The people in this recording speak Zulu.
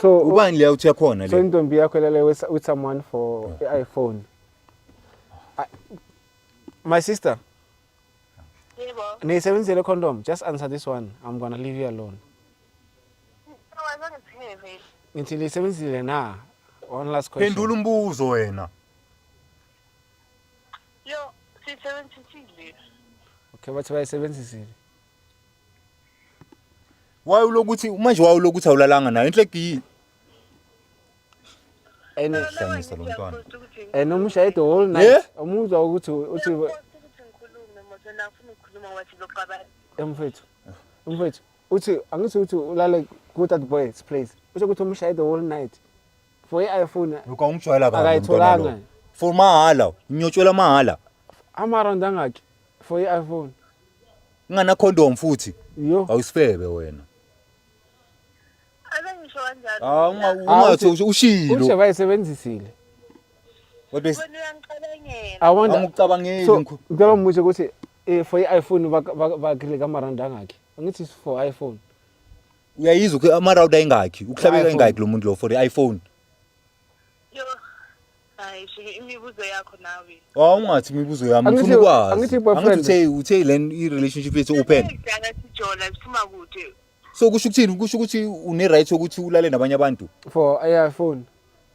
so ubani leya uthi yakhona le so intombi yakho lale with someone for oh. iPhone I, my sister yebo niyisebenzele condom just answer this one i'm gonna leave you alone ngithi niyisebenzile na one last question phendula umbuzo wena yo sisebenzisile okay bathi bayisebenzisile Wayo lokuthi manje wayo lokuthi awulalanga nayo inhleki yini? Ene Hlanyisa lo mntwana. ene umushaye the whole night. Yeah. Umuzwa ukuthi uthi emfethu. Umfethu uthi angithi uthi ulale ku that boy's place. Usho ukuthi umushaye the whole night. For iPhone Lokho ungijwayela kabi. lo mntwana lo. Akayitholanga. For mahala, ngiyotshelwa mahala. ama round angaki? for i-iphone ngana condom futhi yo awusifebe wena akangisho kanjalo Ah, unga- mina. ungathi usho- ushilo ushe bayisebenzisile kodwa is- Wena uyangicabangela i wonder angicabangi so ngikho- ngicela ngimushe ukuthi eh, for i-iphone bak- bak- bakhile kamarandi angakhi angithi it's for iphone uyayizwa ukuthi ama-round ayingakhi ukuhlabeka iPhone. ingakhi lo muntu lo for i-iphone Yo. Hayi, shike imibuzo yakho nawe. Wa ungathi imibuzo yami Angithi- ngifuna ukwazi. angithi boyfriend. Angithi uthe uthe le i relationship yethu open. Sidlala sijola siphuma kude. So kusho ukuthini? Kusho ukuthi une right ukuthi ulale nabanye abantu. for eyafoni